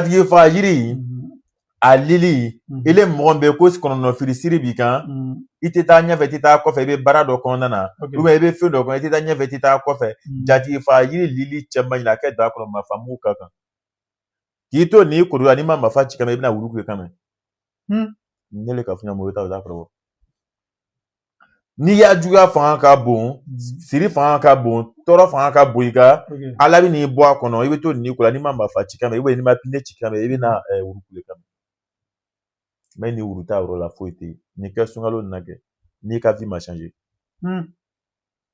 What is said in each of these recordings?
tigi fa yiri a lili ile mɔgɔ bɛ ko kɔnɔnɔfili siri b'i kan i tɛ taa ɲɛfɛ i tɛ taa kɔfɛ i bɛ baara dɔ kɔnɔna na ou bien i bɛ fɛn dɔ kɔnɔ i tɛ taa ɲɛfɛ i tɛ taa kɔfɛ jatigi fa yiri lili cɛman ɲini a kɛ daga kɔnɔ mafa mugu k'a kan k'i to nin koli la n'i ma mafa ci kan mɛ i bɛna wulu kule kan mɛ ne le ka fiɲɛ mɔgɔ i t'a dɔn i t'a kɔrɔ N'i y'a juguya fanga ka bon siri fanga ka bon tɔɔrɔ fanga ka bon nka ala bɛn'i bɔ a kɔnɔ i bɛ to nin ko la n'i ma marifa ci kan mɛ n'i ma pinɛ ci kan mɛ i bɛna wuru kule kan mɛ ni wuru t'a yɔrɔ la foyi tɛ yen nin kɛ sunkalo na kɛ n'i ka vie ma changer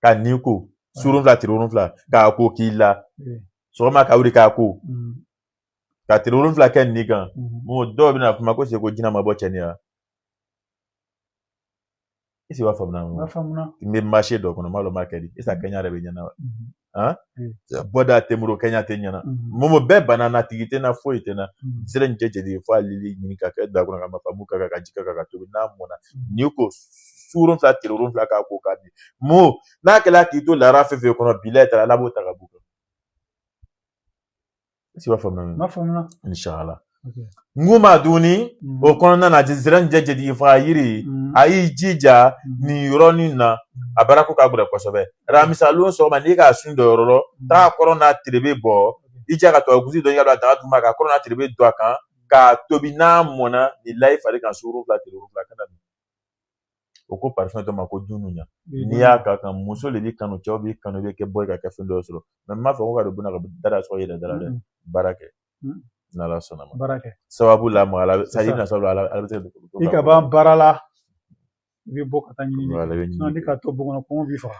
ka nin ko surun fila tile wolonfila k'a ko k'i la sɔgɔma ka wuli k'a ko ka tile wolonfila kɛ nin kan dɔw bɛna kuma ko se ko jinɛ ma bɔ cɛniya est-ce i b'a faamuya n faamuya n bɛ marché dɔ kɔnɔ n m'a dɔn n b'a kɛ di est-ce que kɛɲɛ yɛrɛ bɛ ɲɛna han bɔda tɛ n bolo kɛɲɛ tɛ ɲɛna mɔgɔ bɛɛ bana n na tigi tɛ n na foyi tɛ n na zɛrɛnijɛ jatigi fa a lili ɲini ka kɛ daga kɔnɔ ka mafa mugu k'a kan ka ji kɛ k'a tobi n'a mɔna n'i ko suurun fila tile wolonfila k'a ko k'a di mo n'a kɛra k'i to laara fɛn fɛn kɔnɔ bi la taara ala b'o ta ka b'i kan est-ce i b'a faamuya ma faamuya inshala nguma duni mm. o kɔnɔna na zɛrɛnijɛ jatigi faga yiri mm. a y'i jija mm. nin yɔrɔnin na a baara ko ka gɛlɛn kosɛbɛ ramisa lon sɔgɔma n'i k'a sun dɔ yɔrɔ lɔn taa kɔrɔn n'a tirebe bɔ i jɛ ka tubabu kusi dɔ i ka don a daga duguma ka kɔrɔn n'a tirebe don a kan k'a tobi n'a mɔna nin la i fari kan sugoro fila tile wolonwula kana o ko parfum dɔ ma ko dununya n'i y'a k'a kan muso de b'i kanu cɛw b'i kanu i bɛ kɛ bɔ ka kɛ fɛn dɔ sɔrɔ mais n m'a fɔ ko ka don bon na ka dara sɔrɔ i yɛrɛ dara dɛ baara kɛ n'ala sɔnna ma baara kɛ sababu la ma ala sa i na sababu ala bɛ se i ka ban baara la i bɛ bɔ ka taa ɲini n'i ka to bon kɔnɔ kɔngɔ b'i faga